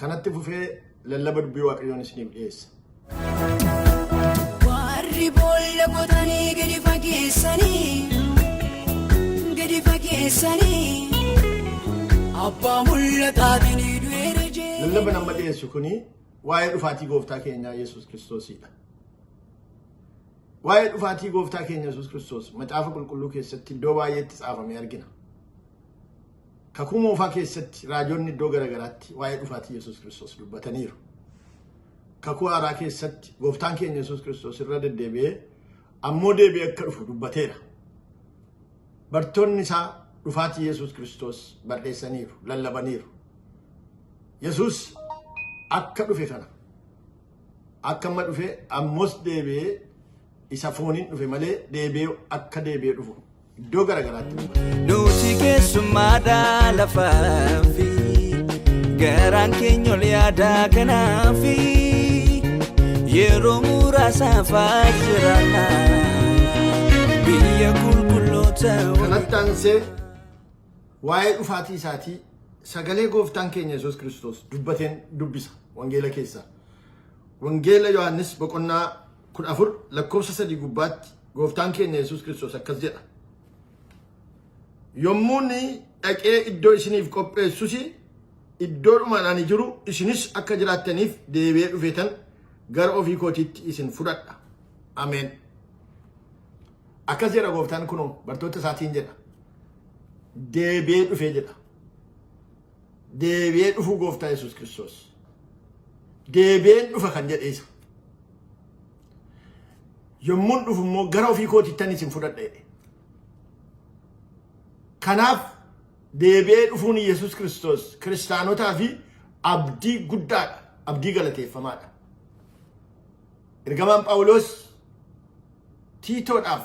Kanatti fufee lallaba dubbii waaqayyoon isiniif dhiyeessa. Warri boolla qotanii gadi fageessanii gadi fageessanii abbaa mul'ataatiin du'eera jee. Lallaba nama dhiyeessu kuni waa'ee dhufaatii gooftaa keenyaa Yesuus Kiristoosiidha. Waa'ee dhufaatii gooftaa keenya Yesuus Kiristoos macaafa qulqulluu keessatti iddoo baay'eetti caafamee argina. Kakuu Moofaa keessatti raajonni iddoo gara garaatti waa'ee dhufaatii Yesuus Kiristoos dubbataniiru. Kakuu Haaraa keessatti gooftaan keenya Yesuus Kiristoos irra deddeebi'ee ammoo deebi'ee akka dhufu dubbateera. Bartoonni isaa dhufaatii Yesuus Kiristoos barreessaniiru, lallabaniiru. Yesuus akka dhufe kana akka amma dhufe ammoos deebi'ee isa fooniin dhufe malee deebi'ee akka deebi'ee dhufu iddoo garagaraatti nu bana. Nuti keessummaadha lafaafi garaan keenya ol yaadaa kanaafi yeroo muraasaaf jiraanna biyya qulqulloota Kanatti aansee waa'ee dhufaatii isaatii sagalee gooftaan keenya Yesuus Kiristoos dubbateen dubbisa wangeela keessaa. Wangeela Yohaannis boqonnaa 14 lakkoofsa 3 gubbaatti gooftaan keenya Yesuus Kiristoos akkas jedha. Yommuun dhaqee iddoo isiniif qopheessus iddoodhumaan ani jiru isinis akka jiraattaniif deebi'ee dhufeetan gara ofii kootiitti isin fudhadha. Ameen. Akkas jedha gooftaan kunoo bartoota isaatiin jedha. Deebi'ee dhufee jedha. Deebi'ee dhufuu gooftaa Yesuus Kiristoos. Deebi'een dhufa kan jedhe isa. Yommuun dhufu immoo gara ofii kootittan isin fudhadha jedhe. Kanaaf deebi'ee dhufuun Yesuus Kiristoos kiristaanotaa fi abdii guddaadha. Abdii galateeffamaadha. Ergamaan Phaawuloos Tiitoodhaaf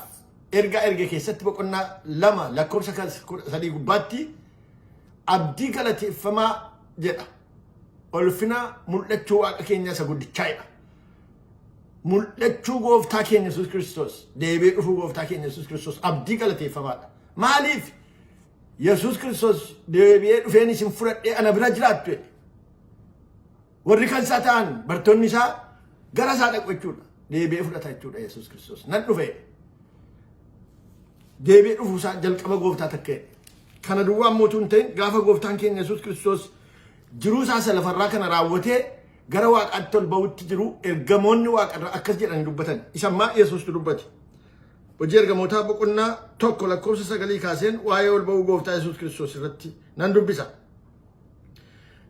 ergaa erge keessatti boqonnaa 2 lakkoofsa 13 gubbaatti abdii galateeffamaa jedha. Ulfina mul'achuu Waaqa keenya isa guddichaa'edha. Mul'achuu gooftaa keenya Yesuus Kiristoos, deebi'ee dhufuu gooftaa keenya Yesuus Kiristoos abdii galateeffamaadha. Maaliif? Yesuus Kiristoos deebi'ee dhufeen isin fudhadhee ana bira jiraattu jedhe. Warri kan isaa ta'an bartoonni isaa gara isaa dhaqu jechuudha. Deebi'ee fudhata jechuudha Yesuus Kiristoos. Nan dhufe. Deebi'ee dhufuu isaa jalqaba gooftaa takkee. Kana duwwaa immoo tun ta'in gaafa gooftaan keenya Yesuus Kiristoos jiruu isaa isa lafarraa kana raawwatee gara waaqaatti ol ba'utti jiru ergamoonni waaqarraa akkas jedhanii dubbatan. Isa ammaa Yesuustu dubbate. Hojii ergamootaa boqonnaa tokko lakkoofsa sagalii kaaseen waa'ee ol ba'uu gooftaa Yesuus Kiristoos irratti nan dubbisa.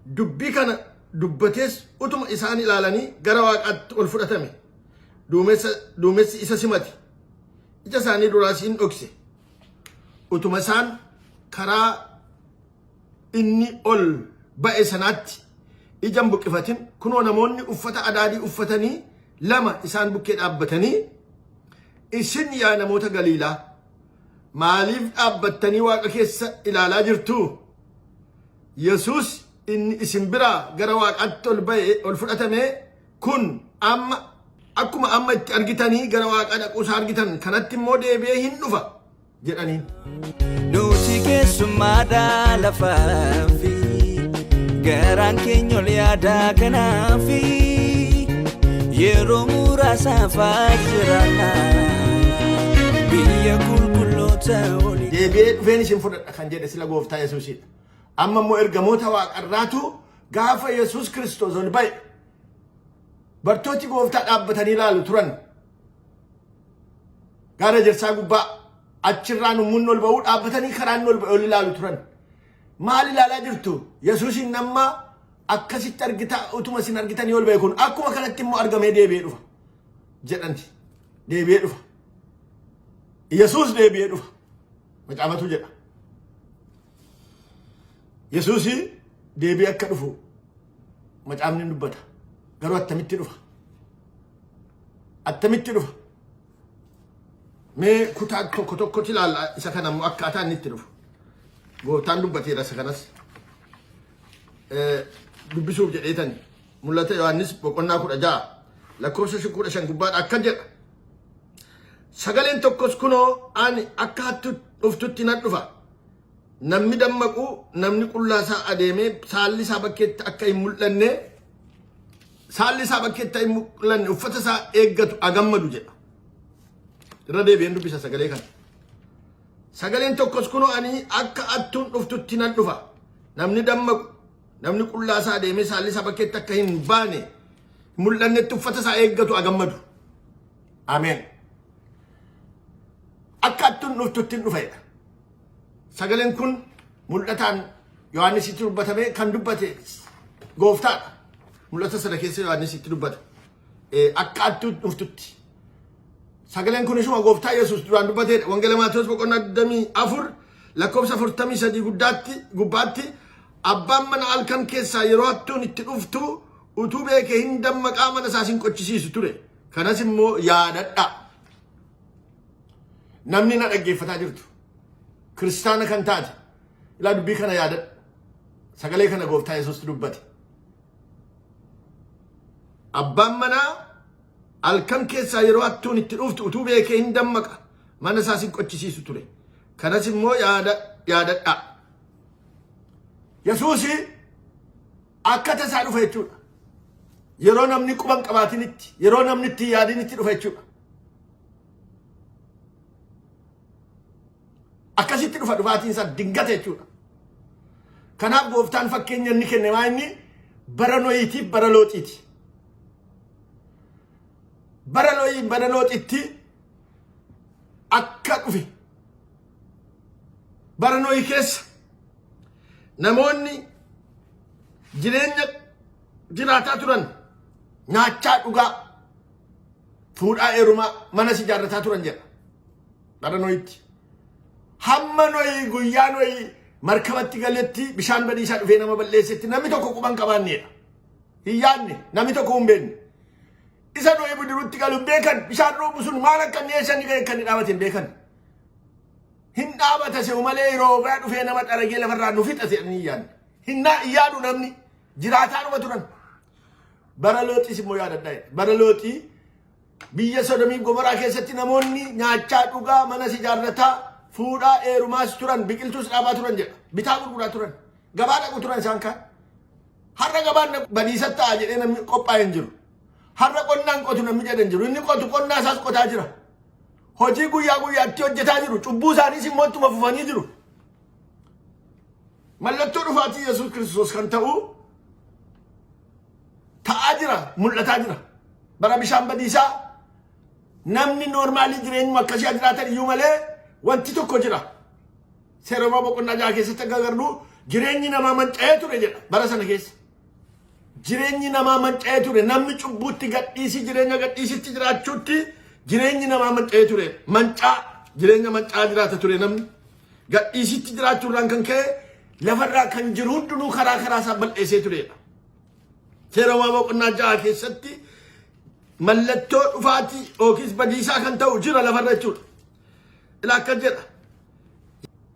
Dubbii kana dubbatees utuma isaan ilaalanii gara waaqaatti ol fudhatame. Duumessa, duumessi isa simate. Ija isaanii duraas in dhokse. Utuma isaan karaa inni ol ba'e sanaatti ija hin buqqifatin kunoo namoonni uffata adaadii uffatanii lama isaan bukkee dhaabbatanii isin yaa namoota Galiilaa Maaliif dhaabbattanii waaqa keessa ilaalaa jirtuu? Yesuus inni isin biraa gara waaqaatti ol ba'e ol fudhatame kun amma akkuma amma itti argitanii gara waaqaa dhaquusaa argitan kanatti immoo deebi'ee hin dhufa jedhaniin. Nuti keessummaadhaa lafaaf Garaan keenya ol yaadaa kanaafi yeroo muraasaaf jiraanna biyya qulqulloota olii. Deebi'ee dhufeen isin fudhadha kan jedhe sila gooftaa Yesuusidha. Amma immoo ergamoota waaqarraatu gaafa Yesuus Kiristoos ol ba'e bartooti gooftaa dhaabbatanii ilaalu turan. Gaara jirsaa gubbaa achirraa nummuun ol ba'uu dhaabbatanii karaan ol ba'e ol ilaalu turan. Maal ilaalaa jirtu? Yesuusiin amma akkasitti argita utuma isin argitanii ol ba'e kun akkuma kanatti immoo argamee deebi'ee dhufa jedhanti. Deebi'ee dhufa. Yesuus deebi'ee dhufa. Macaafatu jedha. Yesuus deebi'ee akka dhufu macaafni dubbata. Garuu attamitti dhufa? Attamitti dhufa? Mee kutaa tokko tokkotti ilaalla isa kana immoo akkaataa inni itti dhufu. Gooftaan dubbateera isa kanas. Dubbisuuf jedheetan mul'ata Yohaannis boqonnaa kudha ja'a lakkoofsa shan kudha shan gubbaadha akka jedha. Sagaleen tokkos kunoo ani akka hattu dhuftutti nan dhufa. Namni dammaqu namni qullaa isaa adeemee saalli isaa bakkeetti akka hin mul'anne saalli isaa bakkeetti hin mul'anne uffata isaa eeggatu agammadu jedha. Irra deebi'een dubbisa sagalee kana. Sagaleen tokkos kunoo ani akka attuun dhuftutti nan dhufa. Namni dammaqu, namni qullaa isaa deemee saalli isaa bakkeetti akka hin baane mul'annetti uffata isaa eeggatu agammadu. Ameen. Akka attuun dhuftutti hin dhufa jedha. Sagaleen kun mul'ataan Yohaannisitti dubbatamee kan dubbate gooftaadha. Mul'ata sana keessa Yohaannisitti dubbata. Eh, Akka attuu dhuftutti. Sagaleen kun ishuma gooftaa Yesuus duraan dubbateedha. Wangeela Maatewos boqonnaa 24 lakkoofsa 43 guddaatti gubbaatti abbaan mana halkan keessaa yeroo hattuun itti dhuftu utuu beekee hin dammaqaa mana isaas hin qochisiisu ture. Kanas immoo yaadadha. Namni na dhaggeeffataa jirtu kiristaana kan taate ilaa dubbii kana yaadadhu. Sagalee kana gooftaa Yesuustu dubbate. Abbaan manaa halkan keessaa yeroo hattuun itti dhuftu utuu beekee hin dammaqa mana isaas hin qochisiisu ture. Kanas immoo yaada yaadadhaa. Yesuusi akka tasaa dhufa jechuudha. Yeroo namni quban qabaatinitti, yeroo namni itti yaadinitti dhufa jechuudha. akkasitti dhufa dhufaatiin isaa dingata jechuudha. Kanaaf gooftaan fakkeenya inni kenne maa inni bara nooyiitiif bara looxiiti. Bara nooyii bara looxitti akka dhufe bara nooyii keessa namoonni jireenya jiraataa turan nyaachaa dhugaa fuudhaa heerumaa manas ijaarrataa turan jedha bara noyitti hamma noyi guyyaa noyi markabatti galetti bishaan badiisaa dhufee nama balleessetti namni tokko quban qabaanneedha hin yaadne namni tokko hin beekne isa noyi bidiruutti galu hin beekan bishaan roobu sun maal akka inni eessa inni ga'e akka inni dhaabate hin beekan hin dhaabata se'u malee yeroo biraa dhufee nama xaragee lafarraa nu fixate hin yaadne hin yaadu namni jiraataa dhuma turan Bara looxiis immoo yaadadhaa jedhe. Bara looxii biyya sodomiif gomoraa keessatti namoonni nyaachaa dhugaa manas ijaarrataa fuudhaa eerumaas turan biqiltuus dhaabaa turan jedha. Bitaa gurguraa turan. Gabaa dhaqu turan isaan kaan. Har'a gabaan dhaqu badiisa ta'a jedhee namni qophaa'e hin jiru. Har'a qonnaan qotu namni jedhe hin jiru. Inni qotu qonnaa isaas qotaa jira. Hojii guyyaa guyyaatti hojjetaa jiru. Cubbuu isaaniis immoo ittuma fufanii jiru. Mallattoo dhufaatii Yesuus Kiristoos kan ta'u ta'aa jira, mul'ataa jira. Bara bishaan badiisaa namni noormaalii jireenyuma akkasii haa jiraatan iyyuu malee wanti tokko jira. Seera Roomaa boqonnaa jaha keessatti akka agarru jireenyi namaa manca'ee ture jedha bara sana keessa. Jireenyi namaa manca'ee ture namni cubbuutti gadhiisii jireenya gadhiisitti jiraachuutti jireenyi namaa manca'ee ture mancaa jireenya mancaa jiraata ture namni Gadhiisichi jiraachuu irraan kan ka'e lafa irraa kan jiru hundinuu karaa karaa isaa bal'eessee tureedha. Seera Uumamaa boqonnaa ja'a keessatti mallattoo dhufaatii yookiis badiisaa kan ta'u jira lafa irra jechuudha. Ilaa akka jedha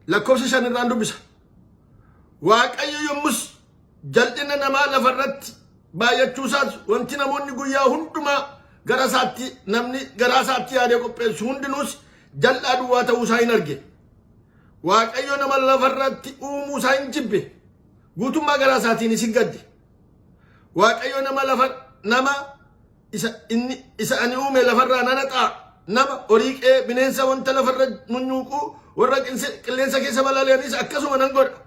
lakkoofsa shan irraan dubbisa. Waaqayyo yommus Jal'inni namaa lafa irratti baay'achuu isaas wanti namoonni guyyaa hundumaa gara isaatti namni garaa isaatti yaadee qopheessu hundinuus jal'aa duwwaa ta'uu isaa hin arge. Waaqayyo nama lafa irratti uumuu isaa hin jibbe. Guutummaa garaa isaatiinis hin gadde. Waaqayyo nama lafa nama isa inni isa ani uume lafarraa nana ta'a. Nama horii qe'ee bineensa wanta lafarra munyuuquu warra qinse- qilleensa keessa balali'anis akkasuma nan godha.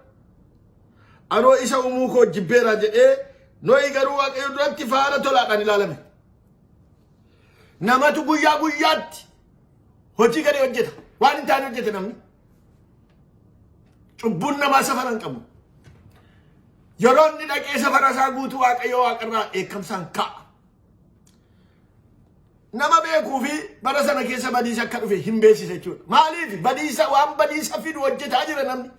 Anoo isa umuu koo jibbeeraa jedhee Nohi garuu waaqayyo duratti faara tolaadhaan ilaalame. Namatu guyyaa guyyaatti hojii galee hojjeta. Waan hin taane hojjeta namni. Cubbuun namaa safara hin qabu. Yeroo inni dhaqee safara isaa guutuu waaqayyo waaqarraa eekkamsaan ka'a. Nama beekuu fi bara sana keessa badiisa akka dhufe hin beeksisa jechuudha. Maaliif badiisa waan badiisa fidu hojjetaa jira namni.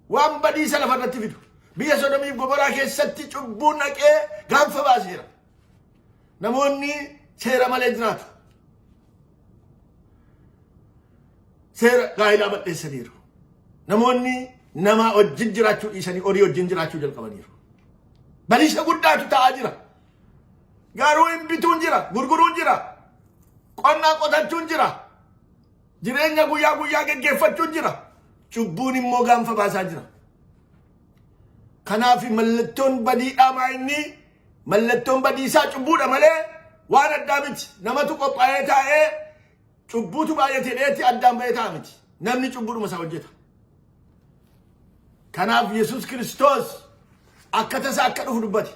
Waan badiisa lafa irratti fidu. Biyya Sodomiif Gomoraa keessatti cubbuun dhaqee gaanfa baaseera. Namoonni seera malee jiraatu. Seera gaa'ilaa bal'eessaniiru. Namoonni namaa wajjin jiraachuu dhiisanii horii wajjin jiraachuu jalqabaniiru. Badiisa guddaatu ta'aa jira. Garuu hin bituun jira, gurguruun jira, qonnaa qotachuun jira. Jireenya guyyaa guyyaa geggeeffachuun jira. Cubbuun immoo gaanfa baasaa jira. Kanaaf mallattoon badiidhaa maa inni mallattoon badiisaa cubbuudha malee waan addaa miti. Namatu qophaa'ee taa'ee cubbuutu baay'ate dheetti addaan ba'ee ta'a miti. Namni cubbuudhuma isaa hojjeta. Kanaaf Yesuus Kiristoos akka tasaa akka dhufu dubbate.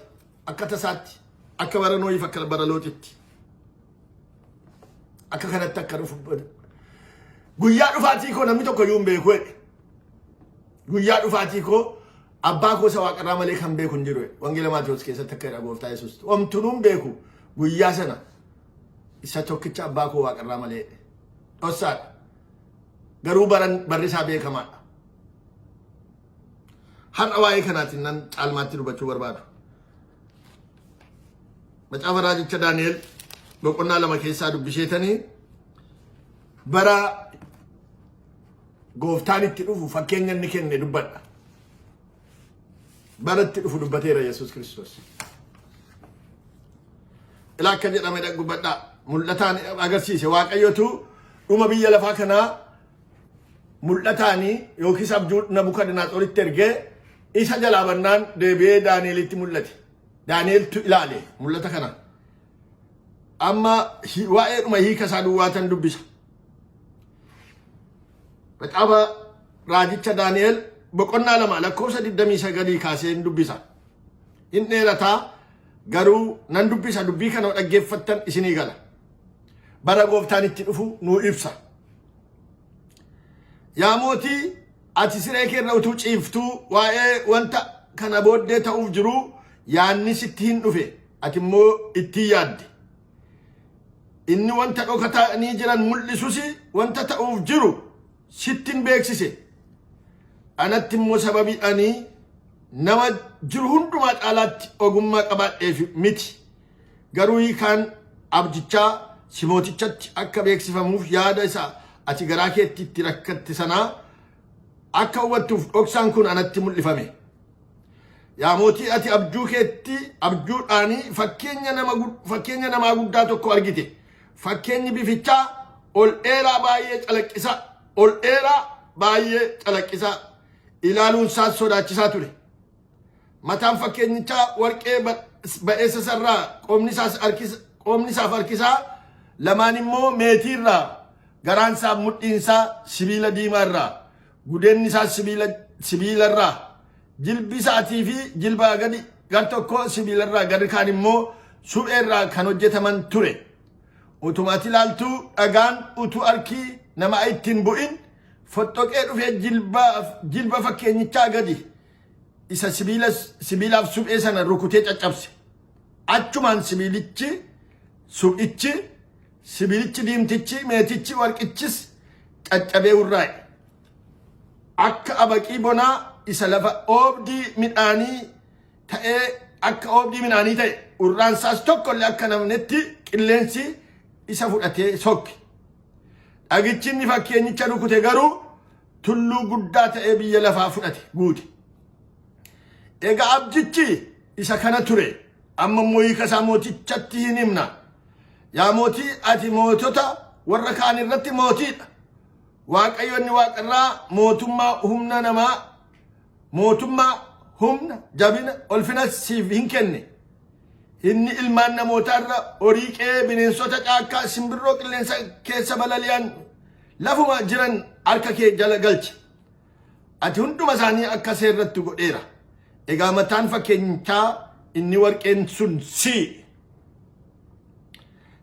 Akka tasaatti, akka bara Nooyiif akka bara Looxitti. Akka kanatti akka dhufu bada. Guyyaa dhufaatii koo namni tokko iyyuu hin beeku jedhe. Guyyaa dhufaatii koo abbaa koo isa waaqarraa malee kan beeku hin jiru jedhe. Wangeela Maatewos keessatti akka jedha gooftaa Yesuus. Omtunuu hin beeku guyyaa sana isa tokkicha abbaa koo waaqarraa malee jedhe. Dhossaadha. Garuu baran barri isaa beekamaadha. Har'a waa'ee kanaatiin nan caalmaatti dubbachuu barbaadu. Macaafa raajicha Daani'el boqonnaa lama keessaa dubbisheetanii bara gooftaan itti dhufu fakkeenya inni kenne dubbadha. Bara itti dhufu dubbateera Yesuus Kiristoos. Ilaa akka jedhame dhaggubadhaa mul'ataan agarsiise waaqayyotu dhuma biyya lafaa kanaa mul'ataanii yookiis abjuu Nabukadnaatsoritti ergee isa jalaa bannaan deebi'ee Daani'elitti mul'ate. Daani'eltu ilaale mul'ata kana. Amma waa'eedhuma hiika isaa duwwaatan dubbisa. Maxaafa raajicha Daani'el boqonnaa lama lakkoofsa 29 kaasee hin dubbisa. Hin dheerataa garuu nan dubbisa dubbii kana dhaggeeffattan isinii gala. bara gooftaan itti dhufu nuu ibsa. Yaa mootii ati siree kee irra utuu ciiftuu waa'ee wanta kana booddee ta'uuf jiruu yaanni sitti hin dhufe ati immoo ittiin yaadde. Inni wanta dhokatanii jiran mul'isus wanta ta'uuf jiru sitti hin beeksise. Anatti immoo sababii ani nama jiru hundumaa caalaatti ogummaa qabaadheef miti. Garuu hiikaan abjichaa si mootichatti akka beeksifamuuf yaada isa ati garaa keetti itti rakkatte sanaa akka hubattuuf dhoksaan kun anatti mul'ifame. Yaa mootii ati abjuu keetti abjuudhaan fakkeenya nama fakkeenya namaa guddaa tokko argite. Fakkeenyi bifichaa ol dheeraa baay'ee calaqqisaa ol dheeraa baay'ee calaqqisaa ilaaluun isaas sodaachisaa ture. Mataan fakkeenyichaa warqee ba'eessa isarraa qoomni isaaf harkisaa lamaan immoo meetii irraa garaan isaa mudhiin isaa sibiila diimaa irraa gudeenni isaa sibiila sibiila irraa jilbi isaatii fi jilbaa gadi gar tokko sibiila irraa garri kaan immoo suphee irraa kan hojjetaman ture. Utumaati ilaaltuu dhagaan utuu harkii nama ittiin bu'in foxxoqee dhufee jilba fakkeenyichaa gadi isa sibiila sibiilaaf suphee sana rukutee caccabse achumaan sibiilichi suphichi sibiilichi diimtichi meetichi warqichis caccabee urraa'e akka abaqii bonaa isa lafa oobdii midhaanii ta'ee akka oobdii midhaanii ta'e urraan isaas tokko illee akka namnetti qilleensi isa fudhatee sokke dhagichi inni fakkeenyicha rukute garuu tulluu guddaa ta'ee biyya lafaa fudhate guute. Egaa abdichi isa kana ture amma immoo hiika isaa mootichatti hin himna. Yaa mootii ati mootota warra kaan irratti mootiidha. Waaqayyoonni waaqarraa mootummaa humna namaa mootummaa humna jabina ulfina siif hin kenne. Inni ilmaan namootaarra horii qe'ee bineensota caakkaa simbirroo qilleensa keessa balali'an Lafuma jiran harka kee jala galche. Ati hunduma isaanii akka seerratti godheera. Egaa mataan fakkeenyichaa inni warqeen sun si.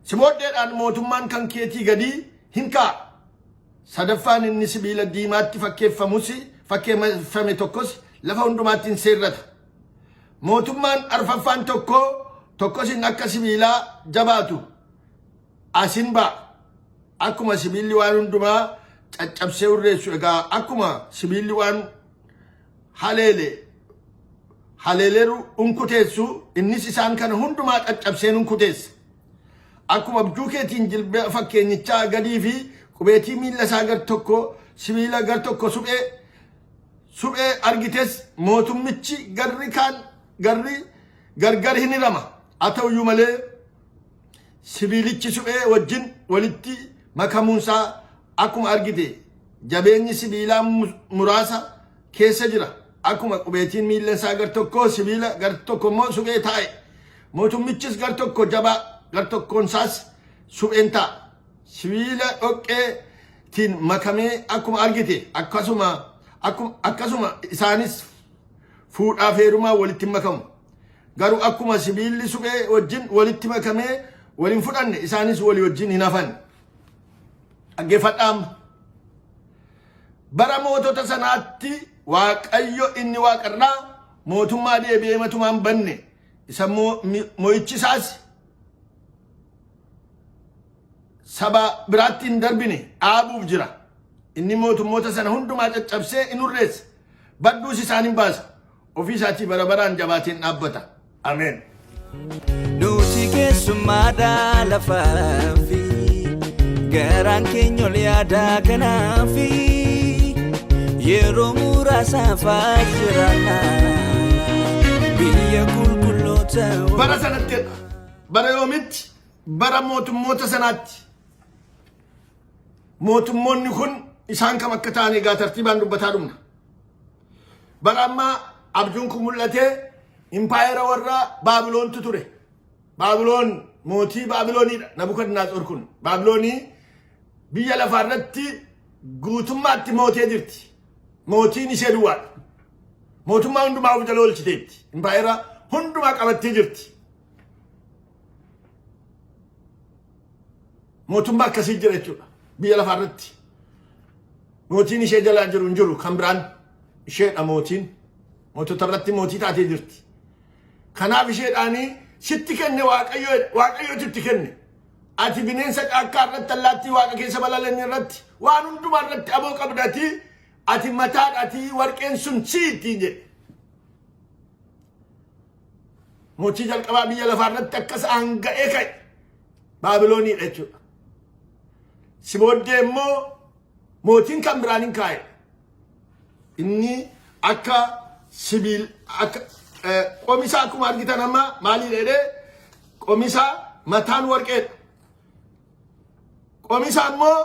Si booddeedhaan mootummaan kan keetii gadii hin ka'a. Sadaffaan inni sibiila diimaatti fakkeeffamus fakkeeffame tokkos lafa hundumaatti hin seerrata. Mootummaan arfaffaan tokko tokkos hin akka sibiilaa jabaatu Asin ba'a. Akkuma sibiilli waan hundumaa caccabsee hurreessu egaa akkuma sibiilli waan haleele haleeleeru hunkuteessu innis isaan kana hundumaa caccabsee hunkuteessa. Akkuma abjuu keetiin jilba fakkeenyichaa gadii fi qubeetii miilla isaa gar tokko sibiila gar tokko suphee suphee argites mootummichi garri kaan garri gargar hin hirama. Haa ta'uyyuu malee Sibiilichi suphee wajjin walitti makamuunsaa akkuma argite jabeenyi sibiilaa muraasa keessa jira. Akkuma qubeetiin miillansaa gar tokkoo sibiila gar tokko immoo suphee taa'e. Mootummichis gar tokko jabaa gar tokkoonsaas supheen ta'a. Sibiila dhoqqeetiin makamee akkuma argite akkasuma akkuma isaanis fuudhaaf heerumaa walitti makamu. Garuu akkuma sibiilli suphee wajjin walitti makamee wal hin fudhanne isaanis walii wajjin hin hafan. Dhaggeeffadhaam. Bara mootota sanaatti Waaqayyo inni waaqarraa mootummaa deebi'ee matumaan banne isa mo'ichi isaas saba biraatti hin darbine dhaabuuf jira. Inni mootummoota sana hundumaa caccabsee in hurreessa. Badduus isaan hin baasa. Ofii isaatii bara baraan jabaateen dhaabbata. Ameen. Nuti keessummaadha lafaafi garaan keenya ol yaada kanaafi yeroo muraasaaf jiraanna biyya qulqulloota Bara sanatti bara yoomitti bara mootummoota sanaatti mootummoonni kun isaan kam akka ta'an egaa tartiibaan dubbataa dhumna. Bara ammaa abjuun kun mul'atee impaayera warra Baabiloontu ture. Baabiloon mootii Baabilooniidha. Nabukadnaatsor kun Baabiloonii biyya lafaa irratti guutummaatti mootee jirti. Mootiin ishee duwwaadha. Mootummaa hundumaa of jala oolchiteetti. Impaayera hundumaa qabattee jirti. Mootummaa akkasii jira jechuudha. Biyya lafaa irratti mootiin ishee jalaa jiru hin jiru kan biraan isheedha mootiin. Mootota irratti mootii taatee jirti. Kanaaf isheedhaanii sitti kenne waaqayyoo waaqayyootu itti kenne. Ati bineensa caakkaa irratti allaattii waaqa keessa balali'an irratti waan hundumaa irratti aboo qabdatii ati mataadhaatii warqeen sun siiti jedhe. Mochii jalqabaa biyya lafaa irratti akkas aanga'ee ka'e Baabilooniidha jechuudha. Si booddee immoo mootiin kan biraan hin kaa'e. Inni akka sibiil akka qomisaa akkuma argitan amma maaliin jedhee qomisaa mataan warqeedha. Qomisaa immoo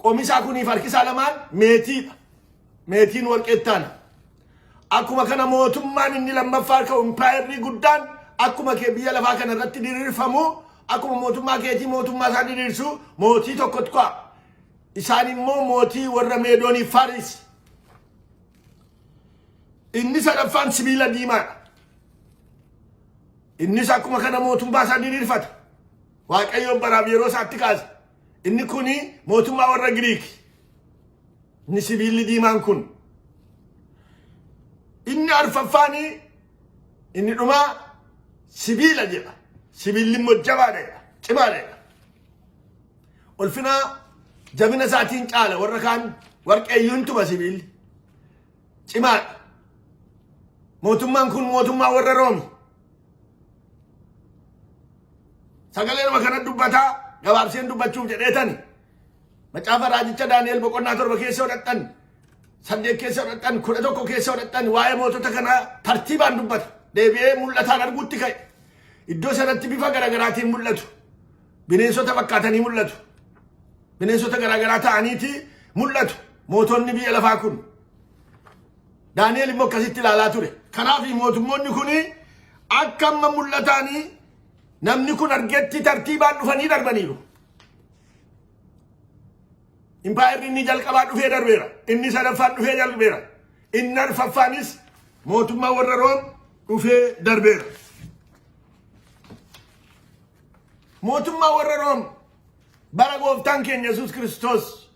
qomisaa kuniif harkisaa lamaan meetiidha. Meetiin warqee ittaana. Akkuma kana mootummaan inni lammaffaa ka'u impaayerri guddaan akkuma kee biyya lafaa kana irratti diriirfamu akkuma mootummaa keetii mootummaa isaa diriirsu mootii tokkotu ka'a. Isaan immoo mootii warra meedoonii Faaris. Inni sadaffaan sibiila diimaadha. Innis akkuma kana mootummaa isaa diriirfata. Waaqayyoon baraaf yeroo isaatti kaasa. Inni kuni mootummaa warra Giriiki. Inni sibiilli diimaan kun inni arfaffaanii inni dhumaa sibiila jedha. Sibiilli immoo jabaadha, cimaadha. Ulfinaa jabina isaatiin caala warra kaan warqeeyyuun tuma sibiilli. Cimaadha. Mootummaan kun mootummaa warra Roomi. Sagalee nama kana dubbataa gabaabseen dubbachuuf jedheetani. Macaafa raajicha Daani'el boqonnaa torba keessa hodhadhan saddeet keessa hodhadhan kudha tokko keessa hodhadhan waa'ee mootota kanaa tartiibaan dubbata. Deebi'ee mul'ataan arguutti ka'e. Iddoo sanatti bifa garaagaraatiin mul'atu. Bineensota fakkaatanii mul'atu. Bineensota garaagaraa ta'aniiti mul'atu. Mootonni biyya lafaa kun. Daani'el immoo akkasitti ilaalaa ture. Kanaaf mootummoonni kun akka amma mul'ataanii namni kun argetti tartiibaan dhufanii darbaniiru. Impaayerri inni jalqabaa dhufee darbeera. Inni sadaffaan dhufee darbeera. Inni arfaffaanis mootummaa warra Room dhufee darbeera. Mootummaa warra Room bara gooftaan keenya Yesuus Kiristoos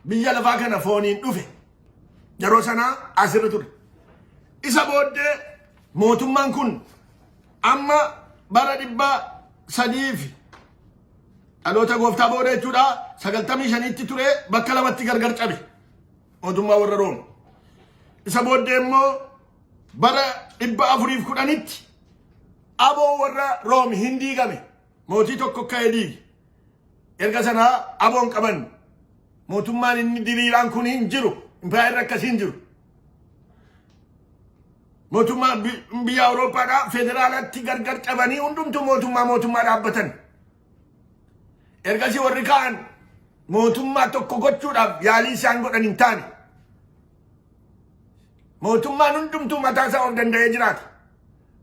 Biyya lafaa kana fooniin dhufe. Yeroo sanaa asirra ture. Isa booddee mootummaan kun amma bara dhibba sadii fi dhaloota gooftaa booda jechuudha sagaltamii shaniitti ture bakka lamatti gargar cabe mootummaa warra room isa booddee immoo bara dhibba afuriif kudhanitti aboo warra room hin diigame mootii tokko ka'ee diige Erga sanaa aboon qaban mootummaan inni diriiraan kun hin jiru. Impaayerri akkasii hin jiru. Mootummaa biyya Awurooppaadhaa federaalatti gargar cabanii hundumtuu mootummaa mootummaa dhaabbatan. Ergasii warri ka'an mootummaa tokko gochuudhaaf yaalii isaan godhan hin taane. Mootummaan hundumtuu mataa isaa of danda'ee jiraata.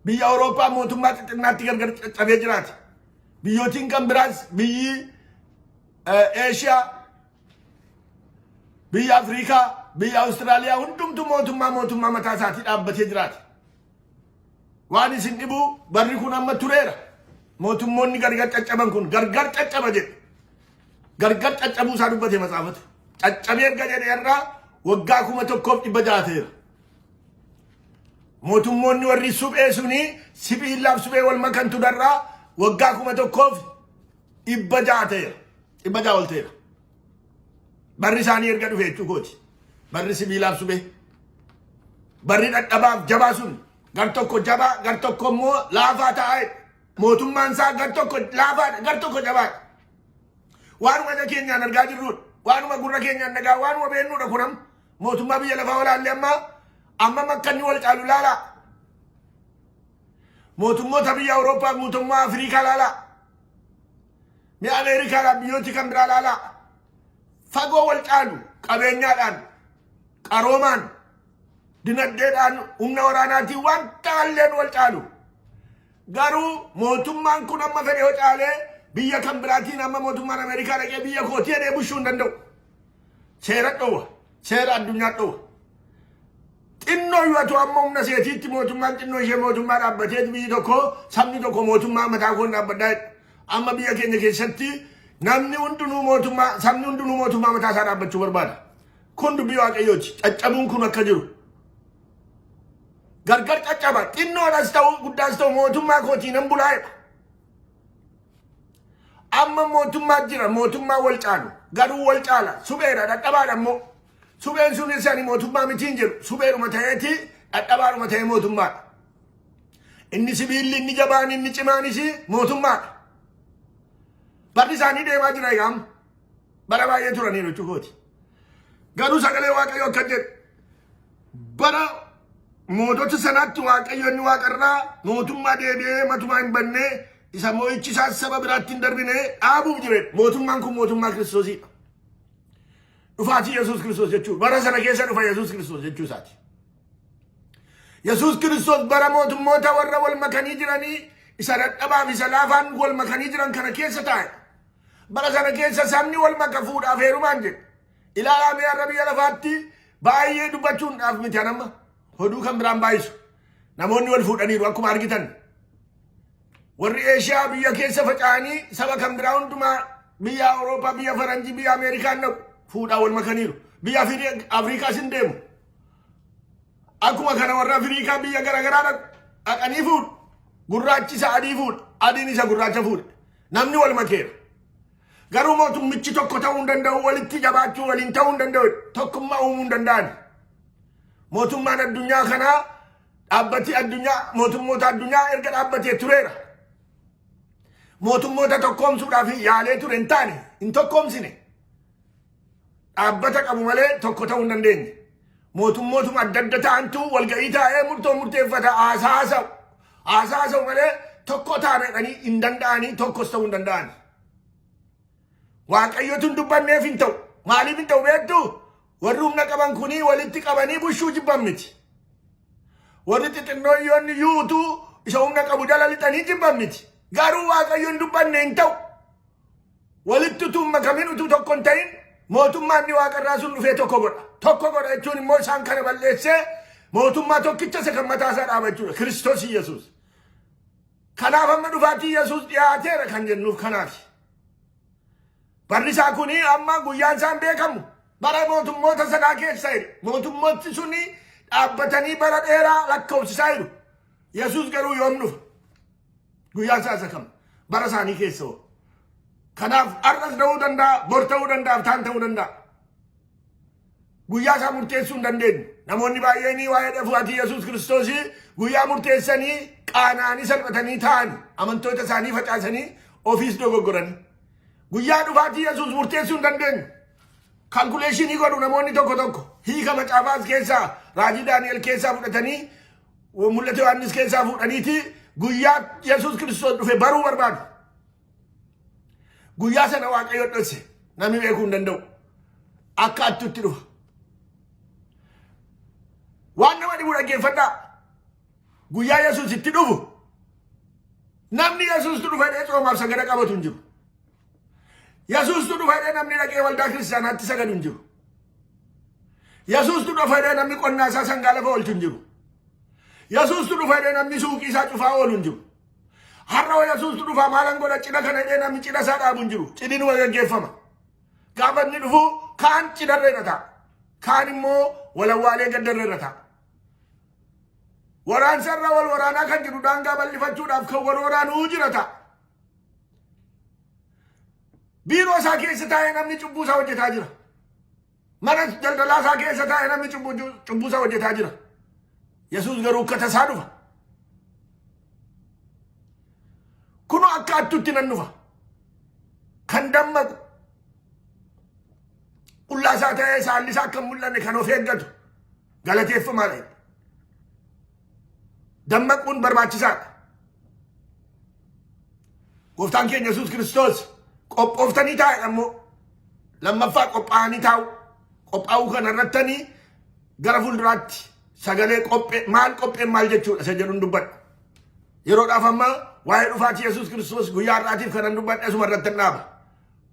Biyya Awurooppaa mootummaa xixinnaatti gargar cabee jiraata. Biyyootiin kan biraas biyyi Eeshiyaa, biyya Afriikaa, biyya Awustiraaliyaa hundumtu mootummaa mootummaa mataa isaatii dhaabbatee jiraata. Waan isin dhibu barri kun amma tureera. Mootummoonni gargar caccaban kun gargar caccaba jedhe. Gargar caccabuu isaa dubbate matsaafatu. Caccabee erga jedhe irraa waggaa kuma tokkoof dhibba ja'a ta'eera. Mootummoonni warri suphee suni sibiillaaf suphee wal makantu darraa waggaa kuma tokkoof dhibba ja'a ta'eera. Dhibba ja'a ol ta'eera. Barri isaanii erga dhufe jechuu kooti. Barri sibiilaaf suphee. Barri dhadhabaaf jabaa sun gar tokko jabaa gar tokko immoo laafaa ta'aa mootummaan isaa gar tokko laafaadha gar tokko jabaadha. Waanuma ija keenyaan argaa jirrudha. Waanuma gurra keenyaan dhagaa waanuma beeknudha kunam. Mootummaa biyya lafaa walaallee ammaa amma makkanni wal caalu laalaa. Mootummoota biyya Awurooppaa mootummaa Afrikaa laalaa. Mi'a Ameerikaa laa biyyooti kan biraa laalaa. Fagoo wal caalu qabeenyaadhaan qaroomaan dinagdeedhaan humna waraanaatiin waan taalleen wal caalu. Garuu mootummaan kun amma fedhe yoo caalee biyya kan biraatiin amma mootummaan Ameerikaa dhaqee biyya kootii jedhee bushuu hin danda'u. seera dhowa seera addunyaa dhowa xinnoo yoo ta'u amma humna seetiitti mootummaan xinnoo ishee mootummaa dhaabbatee biyyi tokko sabni tokko mootummaa mataa koon dhaabbadhaa jedha. amma biyya keenya keessatti namni hundinuu mootummaa sabni hundinuu mootummaa mataa isaa dhaabbachuu barbaada kun dubbii waaqayyooti caccabuun kun akka jiru gargar caccaba xinnoodhas ta'u guddaas ta'u mootummaa kootii nan bulaa jedha Amma mootummaa jira mootummaa wal caalu garuu wal caala supheedha dhadhabaadha immoo supheen sunis ani mootummaa mitiin jedhu supheedhuma ta'eeti dhadhabaadhuma ta'ee mootummaadha. Inni sibiilli inni jabaan inni cimaanis mootummaadha. Barri isaanii deemaa jira yaam bara baay'ee turaniiru jechuukooti. Garuu sagalee waaqayyoo akka jedhu bara mootota sanaatti waaqayyo inni waaqarraa mootummaa deebi'ee matumaa hin bannee isa mo'ichi isaas saba biraatti hin darbine dhaabuuf jire mootummaan kun mootummaa kiristoosiidha. Dhufaatii Yesuus Kiristoos jechuun bara sana keessa dhufa Yesuus Kiristoos jechuu isaati. Yesuus Kiristoos bara mootummoota warra wal makanii jiranii isa dadhabaaf isa laafaan wal makanii jiran kana keessa taa'e. Bara sana keessa sabni wal maka fuudhaaf heerumaan jedhe. Ilaalaa mee har'a biyya lafaatti baay'ee dubbachuudhaaf miti anamma. Hoduu kan biraan baay'isu. Namoonni wal fuudhaniiru akkuma argitan. Warri Eeshiyaa biyya keessa faca'anii saba kan biraa hundumaa biyya Awurooppaa, biyya Faranjii, biyya Ameerikaan dhaqu fuudhaa wal makaniiru. Biyya Afiri- Afriikaas hin deemu. Akkuma kana warra Afriikaa biyya garaagaraa dhaqu dhaqanii fuudhu. Gurraachi isa adii fuudha. Adiin isa gurraacha fuudha. Namni wal makeera. Garuu mootummichi tokko ta'uu hin danda'u, walitti jabaachuu waliin ta'uu hin danda'u, tokkummaa uumuu hin danda'an. Mootummaan addunyaa kanaa dhaabbati addunyaa mootummoota addunyaa erga dhaabbatee tureera. Mootummoota tokkoomsuudhaaf yaalee ture hin taane hin tokkoomsine. Dhaabbata qabu malee tokko ta'uu hin dandeenye. Mootummootuma adda adda ta'antu walga'ii taa'ee murtoo murteeffata haasaa haasa'u. Haasaa haasa'u malee tokko taanedhanii hin danda'anii tokkos ta'uu hin danda'ani. Waaqayyotu hin dubbanneef hin ta'u. Maaliif hin ta'u beektu? Warri humna qaban kunii walitti qabanii bushuu jibban miti. Warri xixinnooyyoon iyyuu utuu isa humna qabu jala lixanii jibban miti. Garuu Waaqayyoon dubbanne hin ta'u. Walitti utuu hin makamin utuu tokko hin ta'in mootummaan inni waaqarraa sun dhufee tokko godha. Tokko godha jechuun immoo isaan kana balleessee mootummaa tokkicha isa kan mataa isaa dhaaba jechuudha. Kiristoos Yesuus. Kanaaf amma dhufaatii Yesuus dhiyaateera kan jennuuf kanaaf. Barri isaa kun amma guyyaan isaa hin beekamu. Bara mootummoota sanaa keessa jedhe. Mootummooti sun dhaabbatanii bara dheeraa lakkoofsisaa jiru. Yesuus garuu yoom dhufa? Guyyaan isaa isa kam? Bara isaanii keessa hoo? Kanaaf har'as ta'uu danda'a, bor ta'uu danda'a, taan ta'uu danda'a. Guyyaa isaa murteessuu hin dandeenyu. Namoonni baay'een waa'ee dhufaatii Yesuus Kiristoos guyyaa murteessanii qaana'anii salphatanii taa'an amantoota isaanii facaasanii ofiis dogoggoranii. Guyyaa dhufaatii Yesuus murteessuu hin dandeenyu. Kalkuleeshinii godhu namoonni tokko tokko hiika macaafaas keessaa raajii Daani'el keessaa fudhatanii mul'ata Yohaannis keessaa fuudhaniiti guyyaa Yesuus Kiristoos dhufe baruu barbaadu. Guyyaa sana Waaqayyo dhokse namni beekuu hin danda'u. Akka attutti dhufa. Waan nama dhibu dhaggeeffadhaa. Guyyaa Yesuus itti dhufu namni Yesuustu dhufa jedhee coomaaf sagada qabatu hin jiru. Yesuustu dhufa jedhee namni dhaqee waldaa kiristaanaatti sagadu hin jiru. Yesuustu dhufa jedhee namni qonnaa isaa sangaa lafa oolchu hin jiru. Yesuustu dhufa jedhee namni suuqii isaa cufaa oolu hin jiru. Har'a hoo Yesuustu dhufaa maalan godha cidha kana jedhee namni cidha isaa dhaabu hin jiru. Cidhinuma gaggeeffama. Gaafa inni dhufu kaan cidharra irra ta'a. Kaan immoo walawwaalee gaddarra irra ta'a. Waraansarra wal waraanaa kan jiru daangaa bal'ifachuudhaaf kan wal waraanuu jira ta'a. Biiroo isaa keessa taa'ee namni cubbuu isaa hojjetaa jira. Mana daldalaa isaa keessa taa'e namni cubbuu cubbuu isaa hojjetaa jira. Yesuus garuu akka tasaa dhufa. Kunoo akka hattuutti nan dhufa. Kan dammaqu. Qullaa isaa ta'ee saalli isaa akka hin mul'anne kan of eeggatu. Galateeffamaa dha. Dammaquun barbaachisaadha. Gooftaan keenya Yesuus Kiristoos qophooftanii taa'e ammoo lammaffaa qophaa'anii taa'u. Qophaa'uu kana irrattanii gara fuulduraatti sagalee qophee maal qopheen maal jechuudha isa jedhuun dubbadha. Yeroodhaaf ammaa waa'ee dhufaatii Yesuus Kiristoos guyyaa har'aatiif kanan dubbadhe asuma irratti dhaaba.